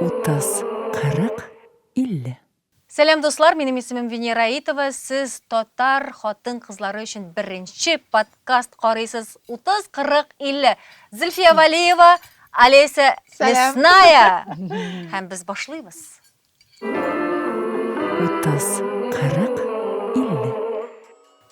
Утыз, кырык, илле. Сәлам дуслар, минем исемем Венера Аитова, сез татар хатын кызлары өчен беренче подкаст карыйсыз, 30, 40, 50. Зөлфия Валиева, Олеся Лесная. Һәм без башлыйбыз. Утыз, кырык, илле.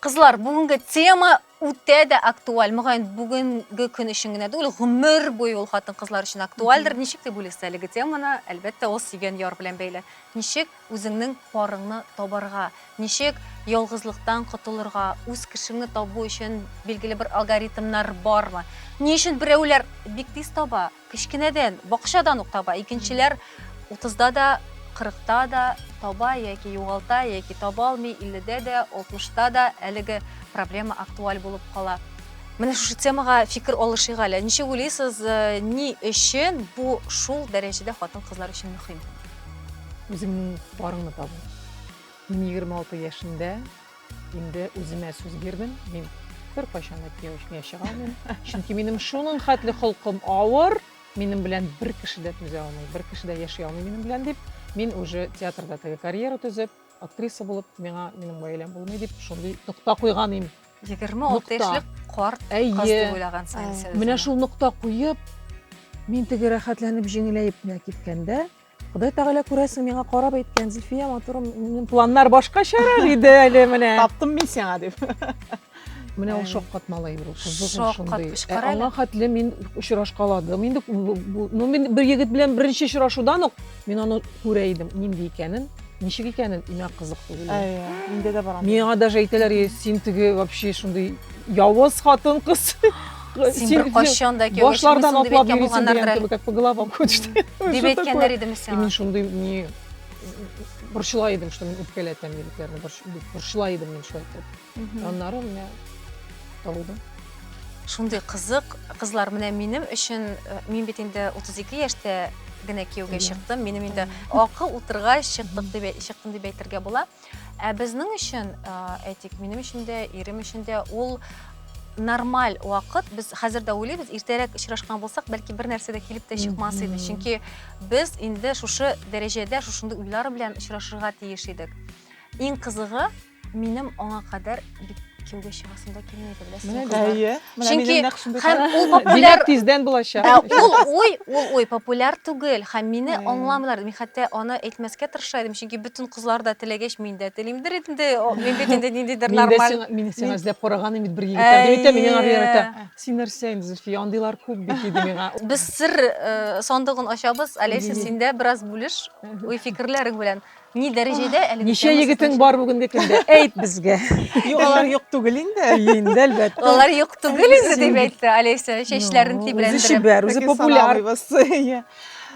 Кызлар, бүгенге тема үтә дә актуаль. Мөгаен, бүгенге көн өчен генә түгел, гомер буе ул хатын-кызлар өчен актуальдер. Ничек дип уйлыйсыз әлеге теманы? Әлбәттә, ул сөйгән яр белән бәйле. Ничек үзеңнең парыңны табарга? Ничек ялгызлыктан котылырга? Үз кешеңне табу өчен билгеле бер алгоритмнар бармы? Ни өчен берәүләр бик тиз таба, Кечкенәдән, бакчадан ук таба. Икенчеләр утызда да, кырыкта да таба яки югалта, яки таба алмый, илледә дә, алтмышта да әлеге проблема актуаль булып кала. Менә шушы темага фикер алышыйк әле. Ничек уйлыйсыз, э, ни өчен бу шул дәрәҗәдә хатын-кызлар өчен мөһим? Үзеңнең парыңны табу. Мин 26 яшендә Инде үземә сүз бирдем, мин беркайчан да кияү эшенә чыга алмыйм. Чөнки минем шуның хәтле холкым авыр, минем белән бер кеше дә түзә алмый, бер кеше дә яши алмый минем белән дип, мин уже театрда теге карьера төзеп, актриса булып, миңа минем гаиләм булмый дип, шундый нокта куйган идем. 26 яшьлек карт кыз дип уйлагансың инде син. Менә шул нокта куеп, мин теге рәхәтләнеп җиңеләеп кенә киткәндә, Ходай Тәгалә күрәсең миңа карап әйткән, Зөлфия матурым, минем планнар башкачарак иде әле менә. Таптым мин сиңа дип. Менә ул шаккат малай бу, кызыгым шундый. Ә аңа хәтле мин очрашкаладым. Инде ну мин бер егет белән беренче очрашудан ук мин аны күрә идем, нинди икәнен, ничек икәнен, имә кызык түгел. Әйе, инде дә бар. Миңа даже әйтәләр, син теге вообще шундый Явыз хатын кыз. Син бер кайчан да кияүгә Башлардан чыкмыйсың дип атлап әйткән йөрисең булганнардыр. дигән кебек, как по головам ходишь. Дип әйткәннәр идеме сиңа? Мин шундый не борчыла идем, что мин үпкәләтәм егетләрне, борчыла идем мин шулай итеп. Аннары менә табылды. Шундый кызык, кызлар, менә минем өчен, э, мин бит инде 32 яшьтә генә кияүгә чыктым. Минем инде акыл утыргач чыктык дип чыктым дип әйтергә була. Ә безнең өчен, әйтик, минем өчен дә, ирем өчен дә ул нормаль вакыт. Без хәзер дә уйлыйбыз, иртәрәк очрашкан булсак, бәлки бер нәрсә дә килеп тә чыкмас иде. Чөнки без инде шушы дәрәҗәдә, шушындый уйлар белән очрашырга тиеш идек. Иң кызыгы, минем аңа кадәр кияүгә чыгасым да килми беләсеңме әйе чөнки һәм ул популяр тиздән булачак ә, ул ой ул ой популяр түгел һәм мине аңламыйлар мин хәтта аны әйтмәскә тырыша идем чөнки бөтен кызлар да теләгәч мин дә телимдер инде мин бит инде ниндидер нормаль мин сиңа эзләп караганым бит бер егетләр дип әйтә миңа бирәтә син нәрсә инде зөлфия андыйлар күп бит диде миңа без сер э, сандыгын ачабыз олеся син дә бераз бүлеш уй фикерләрең белән Ни дәрәҗәдә әлеге Ничә тема егетең сезнең бар бүгенге көндә? Әйт безгә. Юк, алар юк түгел инде. Әйе, инде, әлбәттә. өчен? Алар юк түгел инде, дип Син- әйтте Олеся, чәчләрен Ну, Үзе тибрәндереп. чибәр, үзе Таки популяр. саналмыйбыз. Иә.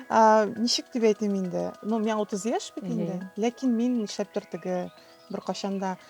А, Ничек дип әйтим инде? Ну, миңа 30 яшь бит Әйе. инде. Ләкин мин нишләптер теге беркайчан да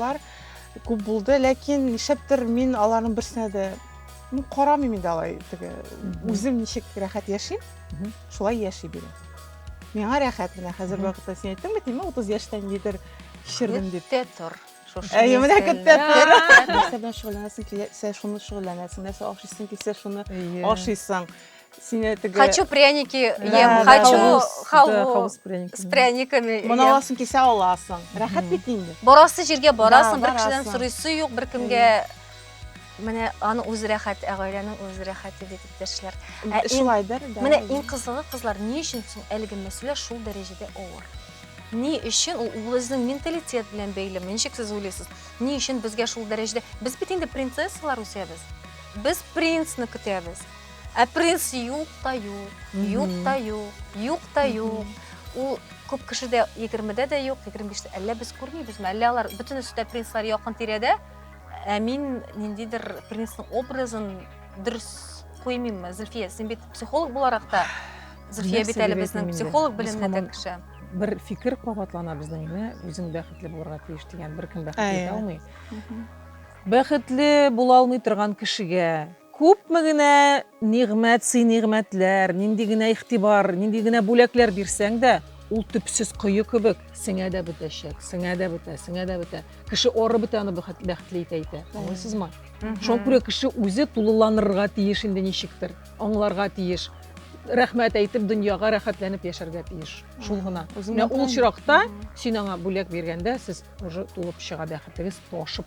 Лар күп булды, ләкин нишләптер мин аларның берсенә дә ну, карамыйм инде алай теге. Үзем ничек рәхәт яшим, шулай яши бирәм. Миңа рәхәт менә хәзер вакытта син әйттең бит, мин 30 яшьтән нидер кичердем дип. Көттә тор. Әйе, менә көттә тор. Нәрсә белән шөгыльләнәсең килсә, шуны шөгыльләнәсең. Нәрсә ашыйсың килсә, шуны ашыйсың. сине теге хочу пряники ем хочу халву с пряниками моны аласың кисә аласың рәхәт бит инде барасы җиргә барасың бер кешедән сорыйсы юк беркемгә менә аны үз рәхәт ә гаиләнең үз рәхәте бит иптәшләр ә шулайдыр да менә иң кызыгы кызлар ни өчен соң әлеге мәсьәлә шул дәрәҗәдә авыр ни өчен ул үзенең менталитет белән бәйлеме ничек сез уйлыйсыз ни өчен безгә шул дәрәҗәдә без бит инде принцессалар үсәбез без принцны көтәбез Ә принц юк та юк, юк та юк, юк та юк. Ул күп кешедә 20-дә дә юк, 25-тә. Әллә без күрмибезме? Әллә алар бөтенесе дә принцлар якын тирәдә? Ә мин ниндидер принцның образын дөрес куймыйммы? Зөлфия, син бит психолог буларак та, Зөлфия бит әле безнең психолог белемле дә кеше. Бер фикер кабатлана безнең, үзең бәхетле булырга тиеш дигән, беркем бәхетле итә алмый. Бәхетле була алмый торган кешегә Күпме генә нигъмәт сый нигъмәтләр, нинди генә игътибар, нинди генә бүләкләр бирсәң дә, ул төпсез кое кебек сеңә дә бетәчәк, сеңә дә бетә, сеңә дә бетә. Кеше оры бетә аны бәхетле итә итә. Аңлыйсызмы? Шуңа күрә кеше үзе тулыланырга тиеш инде ничектер, аңларга тиеш. Рәхмәт әйтеп, дөньяга рәхәтләнеп яшәргә тиеш. Шул гына. Менә ул очракта син аңа бүләк биргәндә, сез уже тулып чыга бәхетегез ташып.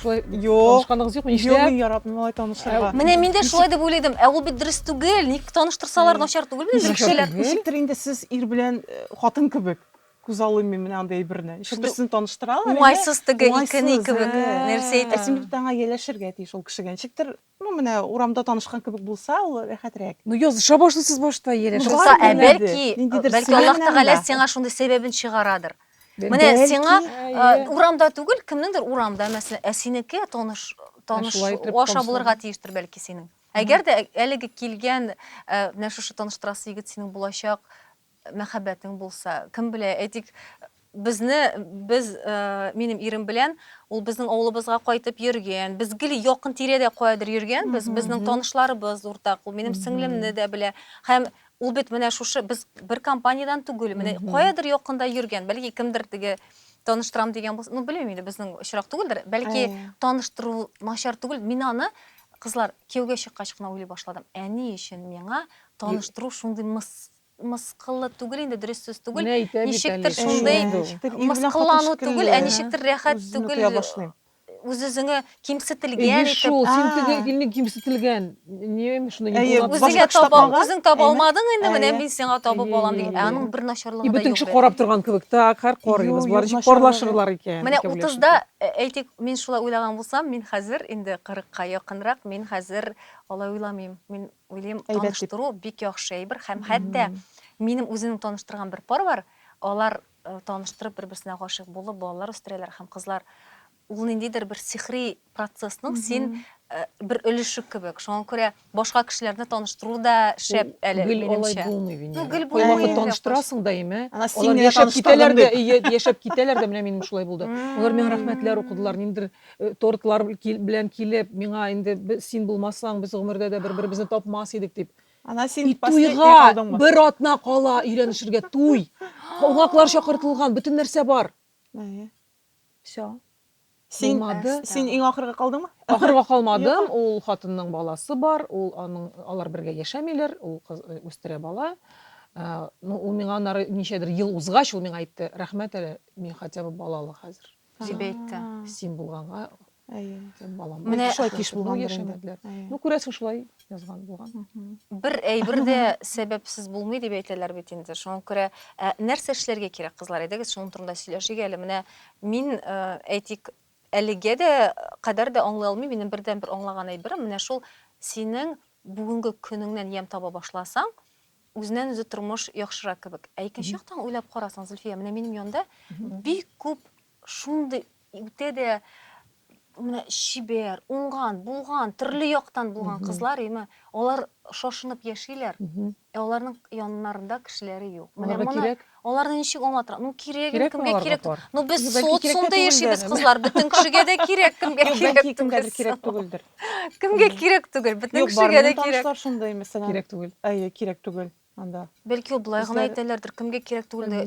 Шулай танышканыгыз юкмы? Нишләп? Юк, мин яратмыйм алай танышырга. Менә мин дә шулай дип уйлыйдым. Ә ул бит дөрес түгел. Ник таныштырсалар начар түгел бит инде кешеләр. Ничектер инде сез ир белән э, хатын кебек. Күз алыйм мин менә андый әйберне. Ничек берсен таныштыралар. Уңайсыз теге икене кебек нәрсә әйтә. Ә син бит аңа яләшергә тиеш ул кешегә. Ничектер Ну, менә урамда танышкан кебек булса, ул рәхәтрәк. Ну, языша башлыйсыз башта, Елеш. Ну, Юкса, ә Белмәде. бәлки, Ниндидер бәлки сыймы Аллаһ белән Тәгалә дә. сиңа шундый сәбәбен чыгарадыр. Бәлки. Менә Бәлки. сиңа а, Әйе. урамда түгел, кемнеңдер урамда, мәсәлән, ә синеке таныш таныш шулай итеп аша танышлар. булырга тиештер бәлки синең. Әгәр дә әлеге килгән, ә, менә шушы таныштырасы егет синең булачак Мәхәббәтең булса, кем белә, әйтик, безне, без, минем ирем белән, ул безнең авылыбызга кайтып йөргән, без гел якын тирәдә каядыр йөргәнбез, безнең танышларыбыз уртак, ул минем сеңлемне дә белә. Һәм ул бит менә шушы, без бер компаниядән түгел, менә каядыр якында йөргән, бәлки кемдер теге таныштырам дигән булса, ну, белмим инде, безнең очрак түгелдер, бәлки таныштыру начар түгел, мин аны, кызлар, кияүгә чыккач кына уйлый башладым, ә ни өчен миңа таныштыру шундый мыскыллы түгел инде, дөрес сүз түгел. Менә әйтә бит Ничектер әле, шундый шундый ул. Ничектер ир белән хатын мыскыллану шикелле, түгел, ә ничектер рәхәт үз-үзен түгел, үтә башлый. үз-үзеңә Әйе кимсетелгән итеп. шул, син А. теге илне кимсетелгән, ни ме шундый Әйе, нидулап башка Үзеңә кеше таба, тапмаган. үзең таба Әйе. алмадың инде, менә Әйе. мин сиңа табып Әйе, алам әйе, дигән. Ә әйе. аның бер И начарлыгы да бөтен юк кеше бит. карап торган кебек, так, хәр Юк, карыйбыз, болар юк, ничек начарлыгы. парлашырлар икән, Менә икәүләшеп. утызда, ә, әйтик, мин шулай уйлаган булсам, мин хәзер инде кырыкка якынрак, мин хәзер алай уйламыйм. Мин Уйлыйм, таныштыру бик яхшы әйбер һәм хәтта минем үземнең таныштырган бер пар бар, алар э, таныштырып бер-берсенә гашыйк булып балалар үстерәләр һәм кызлар ул ниндидер бер сихри процессның син э, бер өлеше кебек. Шуңа күрә башка кешеләрне таныштыру да шәп әле Гел алай минемчә. булмый Венера. Ну, гел Кайвакыт булмый, Венера, таныштырасың даими. Ана син Алар генә яшәп таныштырдың китәләр дә, дип. ие, яшәп китәләр дә, менә минем шулай булды. Алар миңа рәхмәтләр укыдылар, ниндидер Тортлар белән килеп, миңа инде син булмасаң, без гомердә дә бер-беребезне тапмас идек дип. Ана син туйга бер атна кала өйрәнешергә туй. Кунаклар чакыртылган, бөтен нәрсә бар. Все. Син син иң ахырга калдыңмы? Ахырга калмадым. Ул хатынның баласы бар, ул аның алар бергә яшәмиләр, ул кыз үстерә бала. Ну, ул миңа аннары ничәдер ел узгач, ул миңа әйтте, рәхмәт әле, мин хотя бы балалы хәзер. дип әйтте. Син булганга, әйе, балам. Менә шулай киш булган яшәмәделәр. Ну, күрәсең, шулай язган булган. Бер әйбер дә сәбәпсез булмый дип әйтәләр бит инде. Шуңа күрә ә, нәрсә эшләргә кирәк, кызлар, әйдәгез, шуның турында сөйләшик әле. Менә мин, э, әйтик, әлегә дә кадәр дә аңлый алмыйм, минем бердәнбер аңлаган әйберем, менә шул синең бүгенге көнеңнән ямь таба башласаң, Үзеннән-үзе тормыш яхшырак кебек. Ә икенче яктан уйлап карасаң, Зөлфия, менә минем янда бик күп шундый үтә дә менә чибәр, уңган, булган, төрле яктан булган кызлар, яме алар шашынып яшиләр, ә аларның яннарында кешеләре юк. Менә Аларга моны кирәк. Аларны ничек аңлатырга? Ну кирәк, кирәк кемгә кирәк? Ну без социумда яшибез, кызлар, бөтен кешегә дә кирәк, кемгә кирәк түгел. Кемгәдер кирәк түгелдер. Кемгә кирәк түгел, бөтен кешегә дә кирәк. Юк, бар шундый, мәсәлән. Кирәк түгел. Әйе, кирәк түгел анда. Бәлки ул болай гына әйтәләрдер, кемгә кирәк түгел дә.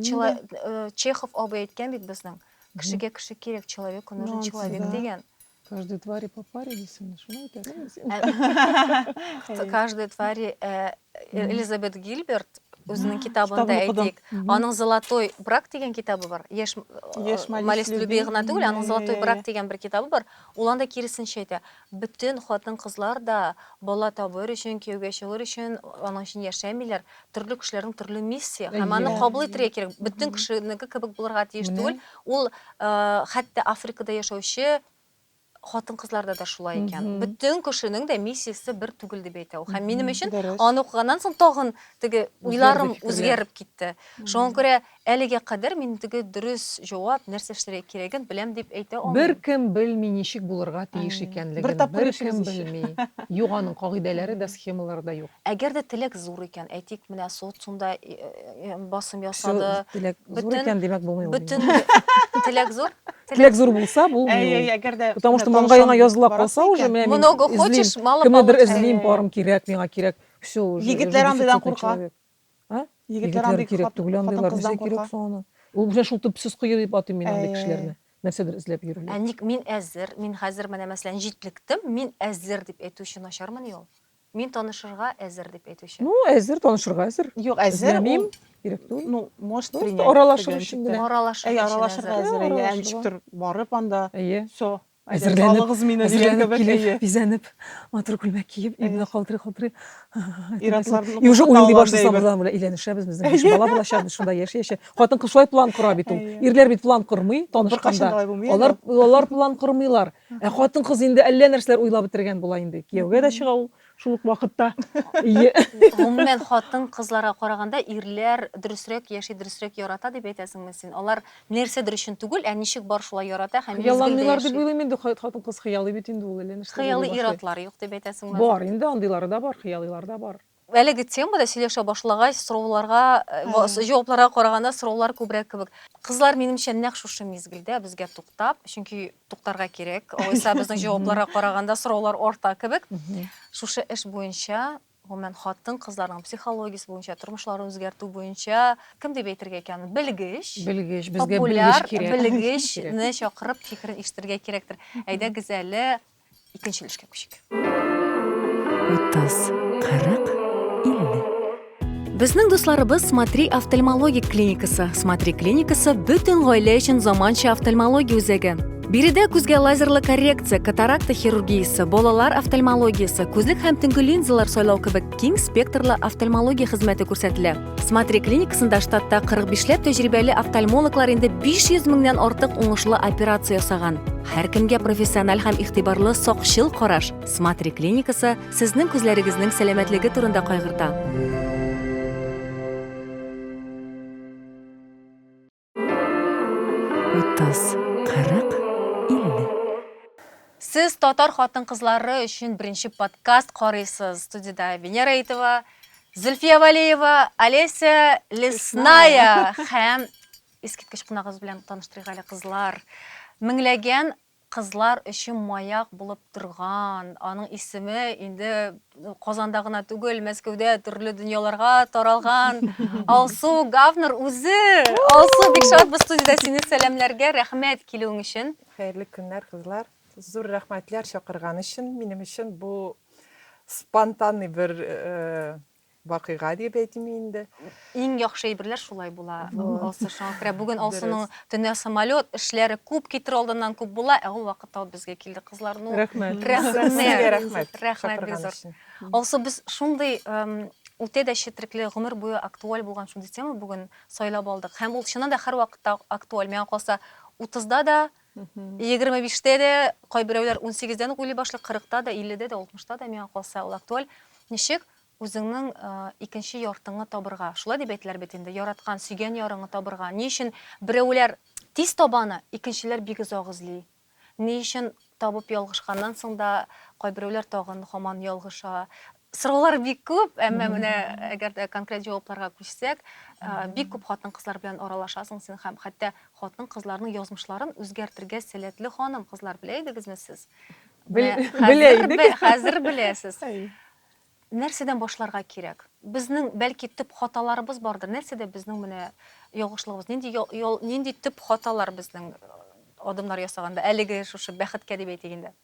Э, Чехов абый әйткән бит безнең. Кешегә кеше кирәк, человеку нужен человек дигән. Каждой твари по паре дисең, шуны әйтәсең син. Ә, каждой твари э, Элизабет Гилберт үзенең китабында әйтик, аның Золотой брак дигән китабы бар. Яшь э, Малис Люби гына түгел, аның Золотой брак дигән бер китабы бар. Ул анда киресенчә әйтә. Бөтен хатын-кызлар да бала табыр өчен, кияүгә чыгыр өчен, аның өчен яшәмиләр. төрле кешеләрнең төрле миссия һәм аны Әйе. кабул итәргә кирәк. Бөтен Мгм. кешенеке кебек булырга тиеш Менә. түгел. Ул э, хәтта Африкада яшәүче хатын-кызларда да шулай икән. Мгм. Бөтен кешенең дә миссиясе бер түгел дип әйтә ул. Һәм минем Мгм. өчен Дөрес. аны укыганнан соң тагын теге уйларым Үзгәрде фикерләр. үзгәреп китте. Шуңа күрә Әлегә кадәр мин теге дөрес җавап, нәрсә эшләргә кирәген беләм дип әйтә алмыйм. Беркем белми ничек булырга тиеш икәнлеген, беркем белми. Юк аның кагыйдәләре дә, схемалары да юк. Әгәр дә теләк зур икән, әйтик, менә социумда басым ясады. Все, теләк зур икән, димәк булмый ул дигән. Бөтен теләк зур. Теләк зур булса, булмый ул. Әй-әй, әгәр дә. Потому что маңгаеңа языла калса уже, менә мин эзлим, кемнедер эзлим, парым кирәк, миңа кирәк, все уже. Егетләр андыйдан курка. А? Егетләр андый кирәк түгел андыйлар. Нәрсә кирәк соң аны? Ул белән шул төпсез кое дип атыйм мин андый кешеләрне. Нәрсәдер эзләп йөрүләр. Ә ник мин әзер, мин хәзер менә мәсәлән җитлектем, мин әзер дип әйтүче начармыни ул? Мин танышырга әзер дип әйтүче. Ну, әзер танышырга әзер. Юк, әзер мин кирәк түгел. Ну, может принять. Аралашыр өчен генә. Аралашыр өчен. Әй, аралашырга әзер. Әй, ничектер барып анда. Әйе. Всё. Әзерләнеп, бизәнеп, матур күлмәк киеп, ирне калтырый-калтырый. И уже уйлый башлыйсың, алардан белән өйләнешәбез, безнең биш бала булачак, шунда яши-яши. Хатын-кыз шулай план кора бит ул. Ирләр бит план кормый, танышканда. Алар, алар план кормыйлар. Ә хатын-кыз инде әллә нәрсәләр уйлап бетергән була инде. Кияүгә дә чыга ул, Шул ук вакытта Гомумән, хатын-кызларга караганда ирләр дөресрәк яши, дөресрәк ярата дип әйтәсеңме син? Алар нәрсәдер өчен түгел, ә ничек бар шулай ярата һәм мизгелдә яши. Хыялланмыйлар дип уйлыйм инде, хатын-кыз хыялый бит инде ул, әллә нәрсә булып яши. Хыялый ир-атлар юк дип әйтәсеңме? Бар инде, андыйлары да бар, хыялыйлар да бар. Әлеге темада сөйләшә башлагач, сорауларга, җавапларга караганда сораулар күбрәк кебек. Кызлар, минемчә, нәкъ шушы мизгелдә безгә туктап, чөнки туктарга кирәк. Алайса безнең җавапларга караганда сораулар арта кебек. Шушы эш буенча, гомумән, хатын-кызларның психологиясе буенча, тормышларын үзгәртү буенча, кем дип әйтергә икән, белгеч, белгеч, безгә белгеч кирәк, популяр белгечне чакырып фикерен ишетергә кирәктер. Әйдәгез әле, Икенче өлешкә күчик. Утыз, кырык, илле. Безнең дусларыбыз Смотри офтальмологик клиникасы. Смотри клиникасы бөтен гаилә өчен заманча офтальмология үзәге. Биредә күзгә лазерлы коррекция, катаракта хирургиясе, балалар офтальмологиясе, күзлек һәм төнге линзалар сайлау кебек киң спектрлы офтальмология хезмәте күрсәтелә. Смотри клиникасында штатта 45 ләп тәҗрибәле офтальмологлар инде 500 меңнән артык уңышлы операция ясаган. Һәркемгә профессиональ һәм игътибарлы сакчыл караш. Смотри клиникасы сезнең күзләрегезнең сәламәтлеге турында кайгырта. Утыз, кырык, илле. Сез татар хатын-кызлары өчен беренче подкаст карыйсыз. Студиядә Венера Итова, Зөлфия Валеева, Олеся Лесная һәм искиткеч кунагыбыз белән таныштырыйк әле, кызлар. Меңләгән Кызлар өчен маяк булып торган, аның исеме инде Казанда гына түгел, Мәскәүдә төрле дөньяларга таралган Алсу Гавнер үзе! Алсу, бик шатбыз студиядә сине сәламләргә, рәхмәт килүең өчен! Хәерле көннәр, кызлар! Зур рәхмәтләр чакырган өчен, минем өчен бу спонтанный бер Вакыйга дип әйтим инде. Иң яхшы әйберләр шулай була, Алсу. Шуңа күрә бүген Алсуның төнлә самолет эшләре күп китер алдыннан күп була, ә ул вакытта ул безгә килде, кызлар. Ну, рәхмәт. Рәхмәт. Рәхмәт бик зур. Алсу, без шундый үтә дә четерекле, гомер буе актуаль булган шундый тема бүген сайлап алдык. Һәм ул чыннан да һәрвакытта актуаль. Миңа калса, 30 да да, Егерме биштә дә, кайберәүләр унсигездән үк уйлый башлый, кырыкта да, илледә дә, алтмышта да, миңа калса, ул актуаль. Ничек үзеңнең икенче яртыңны табырга? Шулай дип әйтеләр бит инде, яраткан, сөйгән ярыңны табырга. Ни өчен берәүләр тиз таба аны, икенчеләр бик озак эзли? Ни өчен табып ялгышканнан соң да, кайберәүләр тагын һаман ялгыша? Сораулар бик күп, әмма менә әгәр дә конкрет җавапларга күчсәк, бик күп хатын-кызлар белән аралашасың син һәм хәтта хатын-кызларның язмышларын үзгәртергә сәләтле ханым кызлар белә идегезме сез? Белә идек. Хәзер беләсез. Нәрсәдән башларга кирәк? Безнең бәлки төп хаталарыбыз бардыр. Нәрсәдә безнең менә ягышлыгыбыз? Нинди нинди төп хаталар безнең адымнар ясаганда әлеге шушы бәхеткә дип әйтик инде?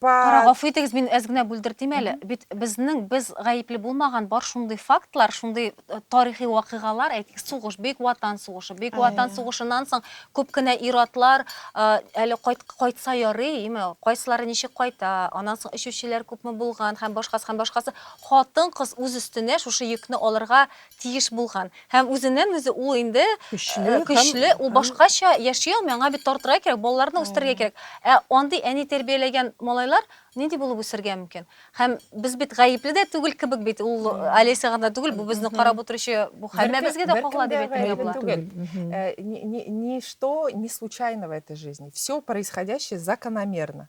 Кара, гафу итегез, мин әз генә бүлдертим әле. Бит безнең, без гаепле булмаган бар шундый фактлар, шундый э, тарихи вакыйгалар, әйтик, сугыш, Бөек Ватан сугышы. Бөек Ватан сугышыннан соң күп кенә ир-атлар э, әле кайт, кайтса ярый, име, кайсылары ничек кайта, аннан соң эчүчеләр күпме булган һәм башкасы һәм башкасы. Хатын-кыз үз өстенә шушы йөкне алырга тиеш булган һәм үзеннән үзе ул инде көчле, ул башкача яши алмый, аңа бит тартырга кирәк, балаларны үстерергә кирәк. Ә андый әни тәрбияләгән малайлар нинди булып үсергә мөмкин? Һәм без бит гаепле дә түгел кебек бит, ул Олеся гына түгел, бу безне карап утыручы, бу һәммәбезгә дә кагыла дип әйтергә була. Ничто не случайно в этой жизни, все происходящее закономерно.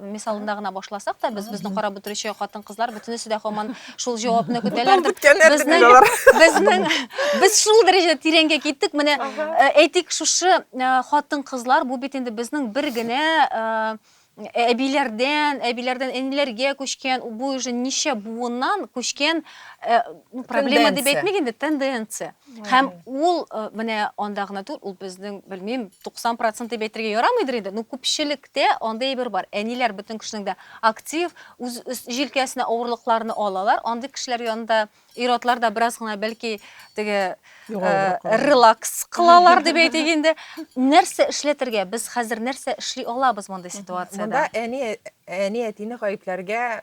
мисалында гына башласак та, без безне карап утыручы хатын-кызлар бөтенесе дә һаман шул җавапны көтәләрдер. Безнең без шул дәрәҗәдә тирәнгә киттек. Менә э, әйтик, шушы э, хатын-кызлар бу бит инде безнең бер генә э, әбиләрдән, әбиләрдән энеләргә күчкән, бу уже ничә буыннан күчкән проблема дип әйтмик инде, тенденция. Һәм ул э, менә анда гына түгел, ул безнең, белмим, 90 процент дип әйтергә ярамыйдыр инде, но күпчелектә андый әйбер бар. Әниләр бөтен кешенең дә актив, үз өс- җилкәсенә авырлыкларны алалар. Андый кешеләр янында ир-атлар да бераз гына бәлки теге э, Югалыбрак калалар. релакс кылалар дип әйтик инде. Нәрсә эшләтергә? Без хәзер нәрсә эшли алабыз мондый ситуациядә? Монда әни әни әтине гаепләргә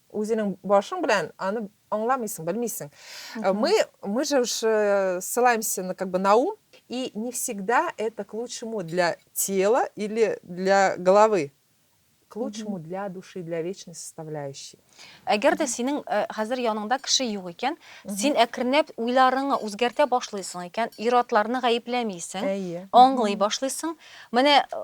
Үзенең башың белән аны аңламыйсың, белмисең. Э, мы, мы же уж э, ссылаемся на, как бы, на ум, и не всегда это к лучшему для тела или для головы, к лучшему для души, для вечной составляющей. Әгәр дә синең э, хәзер яныңда кеше юк икән, син әкренләп уйларыңны үзгәртә башлыйсың икән, ир-атларны гаепләмисең, Әйе. аңлый башлыйсың. Менә э,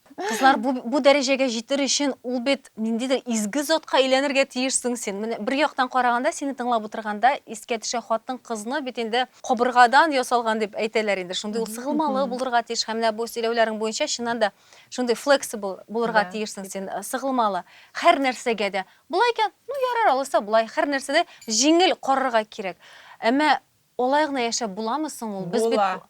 Кызлар, бу, бу дәрәҗәгә җитер өчен ул бит ниндидер изге затка әйләнергә тиешсең син. Менә бер яктан караганда, сине тыңлап утырганда искә төшә, хатын-кызны бит инде кабыргадан ясалган дип әйтәләр инде. Шундый ул сыгылмалы булырга тиеш һәм менә бу сөйләүләрең буенча чыннан да шундый flexible булырга тиешсең син, э, сыгылмалы һәр нәрсәгә дә. Болай икән, ну ярар, алайса болай, һәр нәрсәдә җиңел карарга кирәк. Әмма алай гына яшәп буламы соң ул? Без бит Була.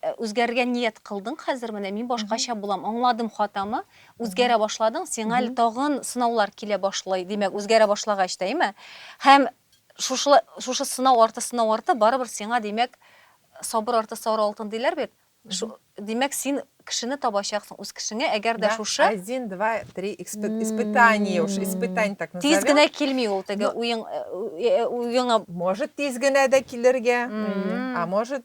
Ә үзгәрергә ният кылдың хәзер менә мин башкача булам аңладым хатамы үзгәрә башладың сиңа әле тагын сынаулар килә башлый димәк үзгәрә башлагач та әйме һәм шушылай шушы сынау арты сынау арты барыбер сиңа димәк сабыр арты сары алтын диләр бит шу димәк син кешене табачаксың үз кешеңә әгәр дә шушы один два три испытание уж испытание так назовем тиз генә килми ул теге уең уеңа может тиз генә дә килергә а может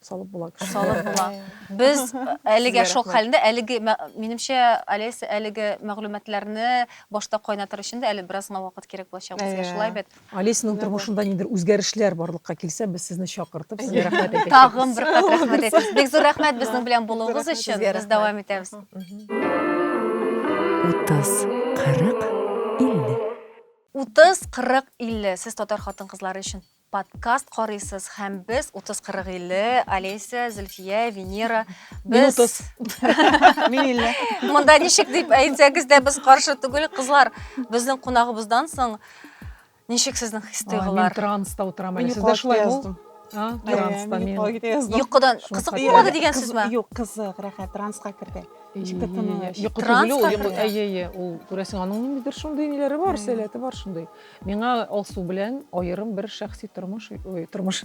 салып була кеше. Салып була. Без әлегә шок хәлендә, әлеге минемчә Алес әлеге мәгълүматларны башта кайнатыр өчен дә әле бераз гына вакыт кирәк булачак безгә шулай бит. Алесның тормышында нидер үзгәрешләр барлыкка килсә, без сезне чакыртып, сезгә рәхмәт әйтәбез. Тагын бер кат рәхмәт әйтәбез. Бик зур рәхмәт безнең белән булуыгыз өчен. Без дәвам итәбез. 30, 40, 50. 30, 40, 50. Сез татар хатын-кызлары өчен Подкаст карыйсыз һәм без 30-40-50, Олеся, Зөлфия, Венера, без Мин 30. Мин 50. Монда ничек дип әйтсәгез дә без каршы түгел, кызлар. Безнең кунагыбыздан соң ничек сезнең хис-тойгылар? Мин транста утырам әле. Сездә шулай яздым. А, транста мин. Йокыдан кызык булмады дигән сүзме? Юк, кызык, рәхәт, транска керде. Ничектер тыныч. Йокы түгел ул, әйе, әйе, ул күрәсең, аның ниндидер шундый ниләре бар, сәләте бар шундый. Миңа Алсу белән аерым бер шәхси тормыш, ой, тормыш.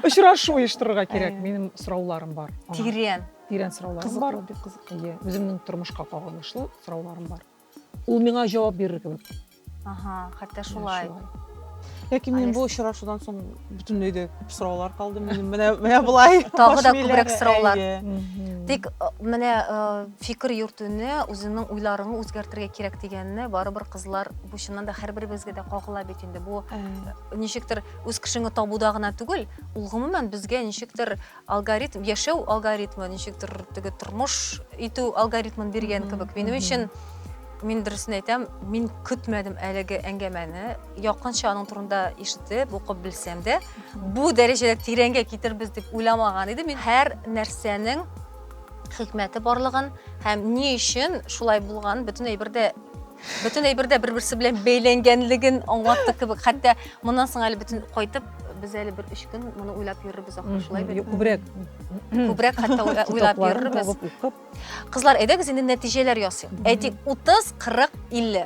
Очрашу оештырырга кирәк. Әйе. Минем сорауларым бар. аңа. Тирән. Тирән сорауларым бар. Кызыклы, бик кызыклы. Әйе, үземнең тормышка кагылышлы сорауларым бар. Ул миңа җавап бирер кебек. Ага, хәтта шулай. Ләкин мин Алис. бу очрашудан соң бөтенләй дә күп сораулар калды минем. Менә менә болай. Тагы да күбрәк сораулар. Әйе. Мгм. Тик э, менә э, Фикер йөртүне, үзеңнең уйларыңны үзгәртергә кирәк дигәнне барыбер кызлар бу чыннан да һәрберебезгә дә кагыла бит инде. Бу ничектер үз кешеңне табуда гына түгел, ул гомумән безгә ничектер алгоритм, яшәү алгоритмы, ничектер теге тормыш итү алгоритмын биргән кебек. Минем өчен мин дөресен әйтәм, мин көтмәдем әлеге әңгәмәне. Якынча аның турында ишетеп, укып белсәм дә, бу дәрәҗәдә тирәнгә китербез дип уйламаган идем. Мин һәр нәрсәнең хикмәте барлыгын һәм ни өчен шулай булган бөтен әйбердә бөтен әйбердә бер-берсе белән бәйләнгәнлеген аңлатты кебек. Хәтта моннан соң әле бөтен кайтып без әле бер өч көн моны уйлап йөрербез ахры шулай бит. Күбрәк. Күбрәк хәтта уйлап йөрербез. Кызлар, әйдәгез инде нәтиҗәләр ясыйк. Әйтик, 30, 40, 50.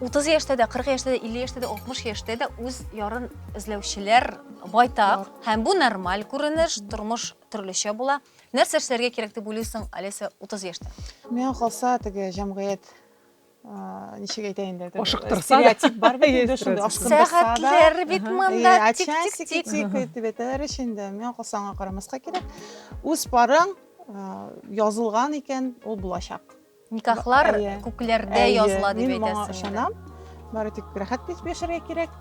30 яшьтә дә, 40 яшьтә дә, 50 яшьтә дә, 60 яшьтә дә үз ярын эзләүчеләр байтак. Һәм бу нормаль күренеш, тормыш төрлечә була. Нәрсә эшләргә кирәк дип уйлыйсың, Олеся, 30 яшьтә? Миңа калса, теге җәмгыять ничек әйтә инде ашыктырса стереотип бар бит инде шундый ашкындырса сәгатьләр бит монда тик тик тик тик итеп әйтәләр ич инде миңа калса аңа карамаска кирәк үз парың язылган икән ул булачак Никахлар күкләрдә языла дип әйтәсең. Мин моңа ышанам. Бары тик рәхәт итеп яшәргә кирәк.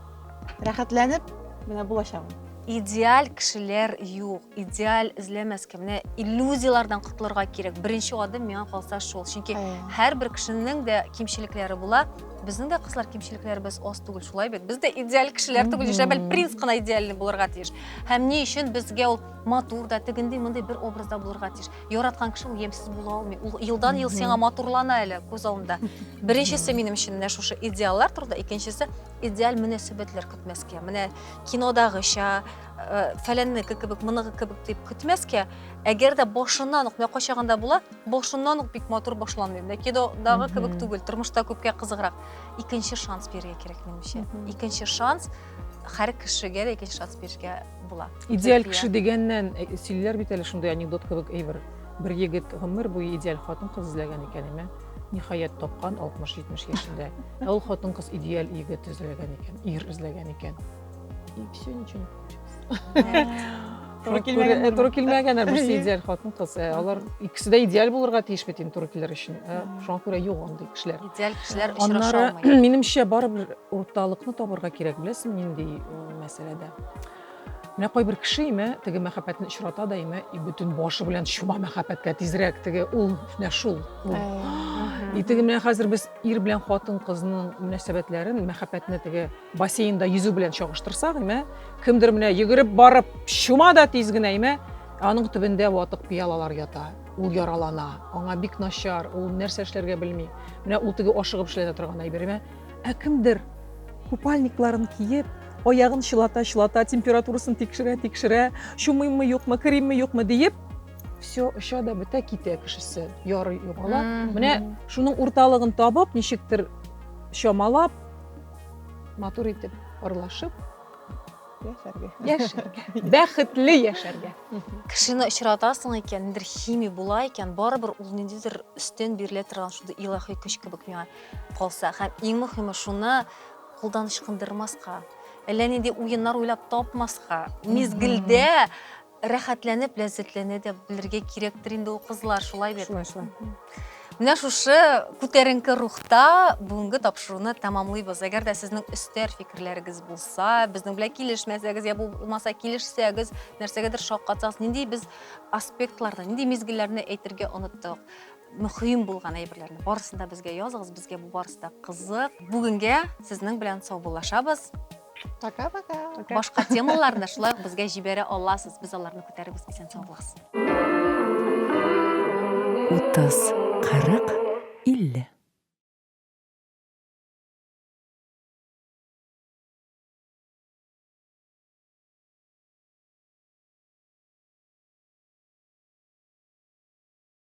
Рәхәтләнеп менә булачагым. Идеаль кешеләр юк. Идеаль эзләмәскә. Менә иллюзияләрдән котылырга кирәк. Беренче адым миңа калса шул. Чөнки һәрбер кешенең дә кимчелекләре була. Безнең дә кызлар кимчелекләребез аз түгел, шулай бит. Без дә идеаль кешеләр түгел, яшәп бәл принц кына идеальный булырга тиеш. Һәм ни өчен безгә ул матур да, тегендей, мондый бер образда булырга тиеш. яраткан кеше ул ямьсез була алмый. Ул елдан ел сиңа матурлана әле күз алдында. Беренчесе минем өчен менә шушы идеаллар турында, икенчесе идеаль мөнәсәбәтләр көтмәскә. Менә кинодагыча, э, фәләннеке кебек, моныгы кебек дип көтмәскә. Әгәр дә башыннан ук, менә кайчагында була, башыннан ук бик матур башланмый. Менә кинодагы кебек түгел, тормышта күпкә кызыграк. Икенче шанс бирергә кирәк минемчә. Икенче шанс һәр кешегә дә икенче шанс бирергә була. Идеаль кеше дигәннән э, сөйлиләр бит әле шундый анекдот кебек әйбер. Бер егет гомер буе идеаль хатын-кыз эзләгән икән, әмма ниһаять тапкан 60-70 яшендә. Ә ул хатын-кыз идеаль егет эзләгән икән, ир эзләгән икән. И все, ничего не получилось. Туры килмәгән. Э, туры килмәгән, ә берсе идеаль хатын-кыз. Э, алар икесе дә идеаль булырга тиеш бит инде туры килер өчен. Э, шуңа күрә юк андый кешеләр. Идеаль кешеләр очраша алмый. Аннары, минемчә, барыбер урталыкны табырга кирәк, беләсең, нинди мәсьәләдә. Менә кайбер кеше име, теге мәхәббәтне очрата да име, и бөтен башы белән чума мәхәббәткә тизрәк теге ул менә шул. И теге менә хәзер без ир белән хатын кызның мөнәсәбәтләрен, мәхәббәтне теге бассейнда йөзү белән чагыштырсак, име, кемдер менә йөгереп барып чума да тиз генә име, аның төбендә ватык пиалалар ята. Ул яралана, аңа бик начар, ул нәрсә эшләргә белми. Менә ул теге ашыгып эшләнә торган әйбер име? Ә кемдер купальникларын киеп, аягын чылата-чылата, температурасын тикшерә-тикшерә, чумыйммы юкмы, керимме юкмы диеп, все оча да бетә китә кешесе ярый югала менә шуның урталыгын табып ничектер чамалап матур итеп ырлашып яшәргә яшәргә бәхетле яшәргә кешене очратасың икән ниндидер химия була икән барыбер ул ниндидер өстен бирелә торган шундый илаһи көч кебек миңа калса һәм иң мөхиме шуны кулдан ычкындырмаска әллә нинди уеннар уйлап тапмаска мизгелдә рәхәтләнеп ләззәтләнә дә белергә кирәктер инде ул кызлар шулай бит шулай шулай менә шушы күтәренке рухта бүгенге тапшыруны тәмамлыйбыз әгәр дә сезнең өстәр фикерләрегез булса безнең белән килешмәсәгез я булмаса килешсәгез нәрсәгәдер шаккатсагыз нинди без аспектларда нинди мизгелләрне әйтергә оныттык мөһим булган әйберләрне барысын да безгә языгыз безгә бу барысы да кызык бүгенгә сезнең белән саубуллашабыз пока пока башка темаларны шулай ук безгә җибәрә аласыз без аларны күтәребез исән сау булыгыз утыз кырык илле